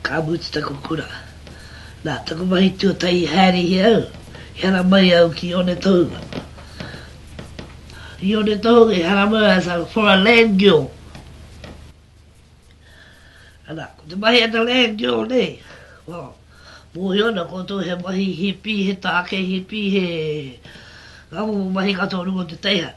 Ka mutu taku kura. Nā taku mahi tuatahi i haerehia au, i haramai au ki Onetohu. I Onetohu i haramai as a for a land girl. Ana, ko te mahi a te land girl nei, well, mōhio ana koutou he mahi hipi, he tāke hipi, he ngā momo mahi katoa o runga o te teihana.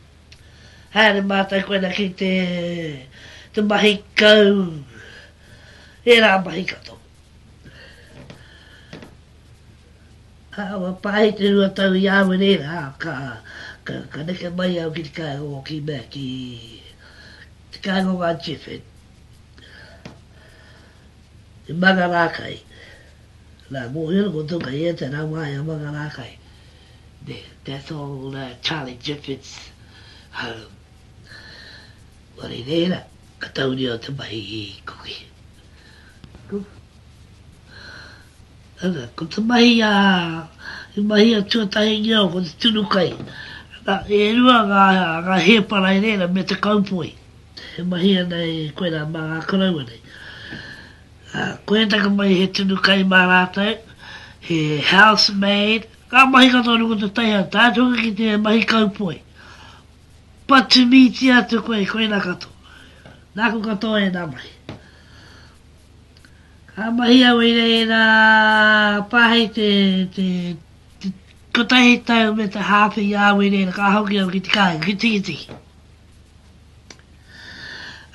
Haere mātou koina ki te te mahi kau ērā mahi katoa. Awa pāhi te rua tau i awe nei rā ka ka neke mai au ki te kāinga o ki mea ki te kāinga o ngā Chifin i Mangarākai. Nā, mōhio ko Toka ia te rangā i a Mangarākai. Me that old uh, Charlie Jeffords home. Wari reira, ka tauria o te mahi i Kuki. Kuki. Ana, ko te mahi a, i mahi a Tuatahingia o ko te tunukai. Ana, e rua ngā, ngā hēparai reira me te kaupoi. He mahi ana i koe rā mā ngā koroua nei. Ā, koia taku mahi he tunu kai mā rātou, he house maid, ngā mahi katoa nō te taiao, tae atu hoki ki te mahi kaupoi. But to mītia atu koe, koinā katoa. Nāku katoa ēnā mahi. Ka mahi au i reira pā hei te, te, te kotahi tau me te hāwhe i a au i reira, ka hoki au ki te kāinga, ki Tikitiki.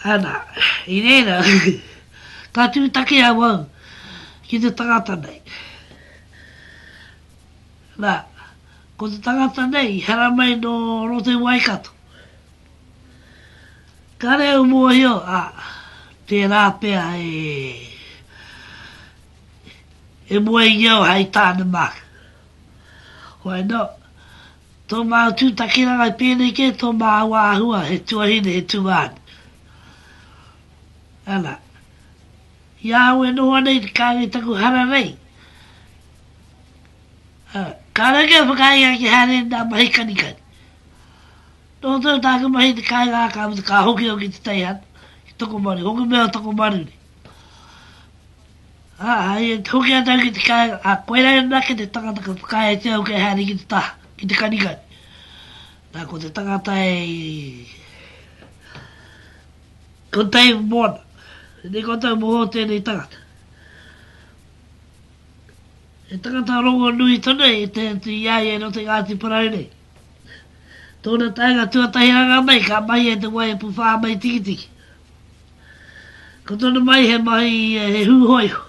Ana, i reira, ka tūtaki awau ki te tangata nei. Na, ko te tangata nei i haramai nō roto i Waikato. Kāre au mōhio, ā, tērā pea e, e moe i au hai tāne māku. Why not? Tō māu tū takiranga i pēnei kē, tō māu āhua he tuahine, he tungāne. Ana. I ahau e noho ana i te kāinga i taku hara nei, ā, kāore kia whakaae ia ki haere nā mahi kanikani. Noho tonu tāku mahi i te kāinga ā, ka mutu ka hoki au ki te teihana, ki Tokomaru, hoki mai o Tokomaru nei. Ā, i hoki atu au ki te kāinga, ā, koirā anake te tangata ka whakaae e te au kei haere ki te taha, ki te kanikani. Nā, ko te tangata e Ko Dave Mōna. Tēnei koutou moho o tēnei tangata. He tangata rongonui tonu i te atu i a ia i roto i Ngāti Porou nei. Tōna taenga tuatahi rangā mai ka mahia i te wai e puwhā mai tikitiki. Ko tonu mai he mahi he huhoiho.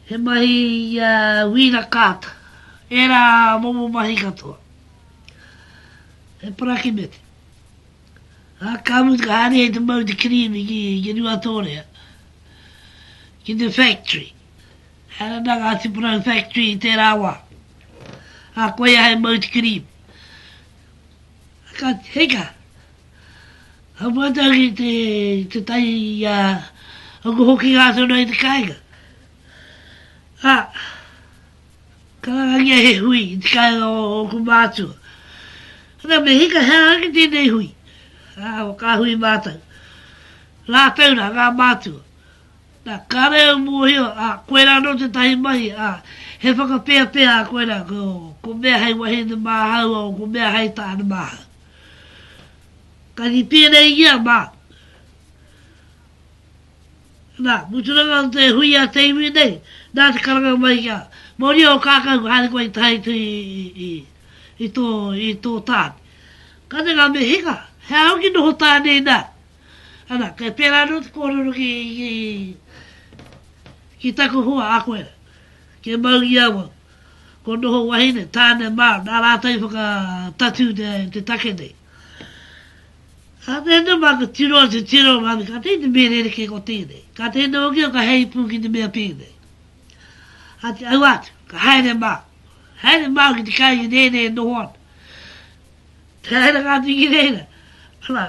He mahi ia wira kaata. Era momo mahi katoa. He parakimete. A ka mutu ka haere ai te mau te kirimi ki, ki Ruatorea. Ki te factory. Era na ngā tiparau factory i tērā wā. A koia he mau te kirimi. Ka, hei ka, Ka pata ki te, te tai i a Uncle Hoki ngā tono i te kāinga. A, ka rangangia he hui i te kāinga o, o ku mātua. Ana me hika hea ake tēnei hui. A, o kā hui mātou. Rātou rā, ngā mātua. Nā, ka reo mōhio, a, koe rā no te tahi mahi, a, he whakapeapea a koe rā, ko, ko mea hei wahine māhaua o ko mea hei tāne māhau. Ka kitea nei i a Mark. Nā, muturanga o te hui a te iwi nei, nā te karanga mai ki a Moria o Kākau ka haere koe i taha atu i, i, i, i, tō, i tō tāne. Ka te ngā me hika, he aha hoki noho tāne nā? Ana, kei pērā anō te kōrero ki, ki, ki taku hoa a koe. Kia mau i awau. Kua noho wahine, tāne mā, nā rātou i whakatatū te take nei. Ka mea nei mā, ka tiro atu, tiro atu, ka teine mea rerekē ko tēnei, ka teine hoki ka hei pū ki te mea tēnei. A te au atu, ka haere mā, haere mā ki te kai ki tēnei e noho ana. Te haere ngā tiki reira, ana,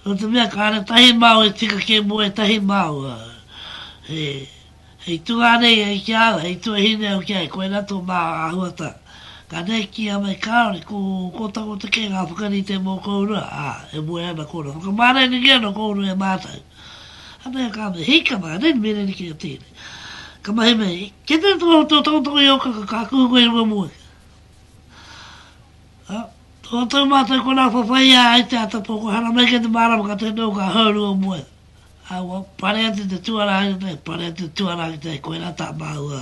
Nō te mea kāre tahi māu e tika kē mō ētahi māu, ā, hei tungā nei ai ki a au, hei tuahine au ki ai, koirā tō māu āhuata. Ka nēkia mai kāore, ko Kōtakota kē ngā whakarite mō kōrua, ā, e moe ana kōrua. Whakamārenegia ana kōrua e mātou. Anei ka mea, Hei kama, anei me renekia tēnei. Ka mahi mai, Kei te tū au tō tokotoko i ō kaka, ka kuhu koe i runga moeka. Ā, ko tō mātou konā whawhai ā ai te ata pō, kua haramai ki te mārama ka tū noa ka hauru o mua. Ā, kua pare atu te tuarā ki te, pare atu te tuarā ki te, koirā tā māua.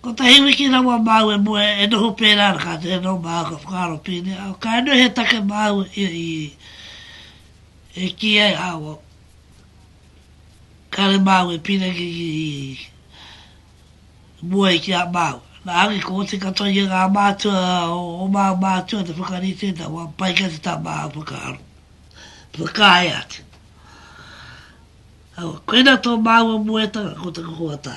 Kotahi wiki rawa māu e mua e noho pērā ana kātahi anō māu ka whakaaro pēnei, ā, ka nui he take māu i, i, e kī ai, ā, kua, kāre māu e pīrangi ki, Moe ki a māua. Nā Rangi ko Oti katoa ia ngā mātua o māu mātua te whakarite nā wā pai kē te tā māu whakaaro. Whakaae atu. Awa, koina tō māua moetanga ko te kokoatā.